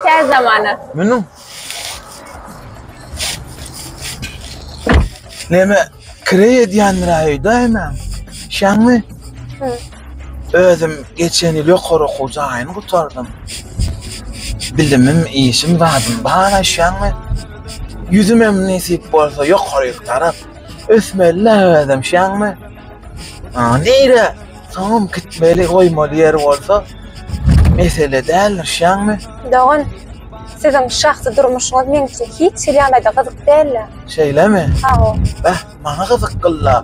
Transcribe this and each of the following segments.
Tez zamana. Münüň. Neme kireý edýändir aýda hemen. Şaňmy? Özüm geçen ýyl ýokary okuw jaýyny gutardym. Bilimim, işim zadym bar aýşaňmy? Ýüzüm hem nesip bolsa ýokaryk tarap ösmeli-le özüm şaňmy? Nire? Soňam gitmeli goýmaly ýeri bolsa mesele däl dyrşýaňmy? Dogan, siziň şahsy durmuşyňyz meňçe hiç hili ýagdaýda gyzyk däl-le. Şeýlemi? Hawa. Beh, maňa gyzyk gyl-la.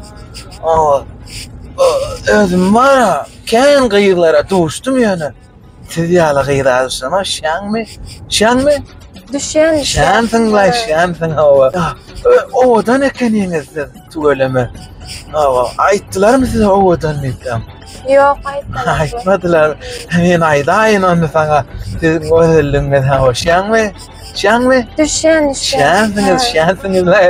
Özüm bar-a, kän gyzlara duşdum ýöne. Siz ýaly gyz adyşana şäňmi? Şäňmi? Düşýän. Şäňsiň laý, şäňsiň hawa. Owadan ekeniňiz siz, tüweleme. Hawa, aýtdylarmy size owadan diýipdem? Ýok, aýtmadylar. Aýtmadylar. Men aýdaýyn onda saňa. Siz gözelligiňiz hawa, şäňmi? Şäňmi? Düşýän, düşýän. Şäňsiňiz, şäňsiňiz laý.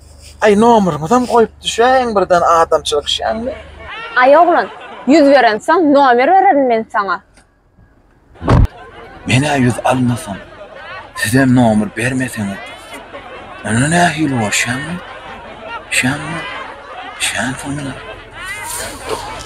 Aý nomeryňyzam goýup düşäýiň birden adamçylyk işýäňmi. Aý oglan, ýüz berensoň nomer bererin men saňa. Men-ä ýüz almasam, sizem nomer bermeseňiz, onda nähili bolşýamy? Şämi? Şämsoň biler.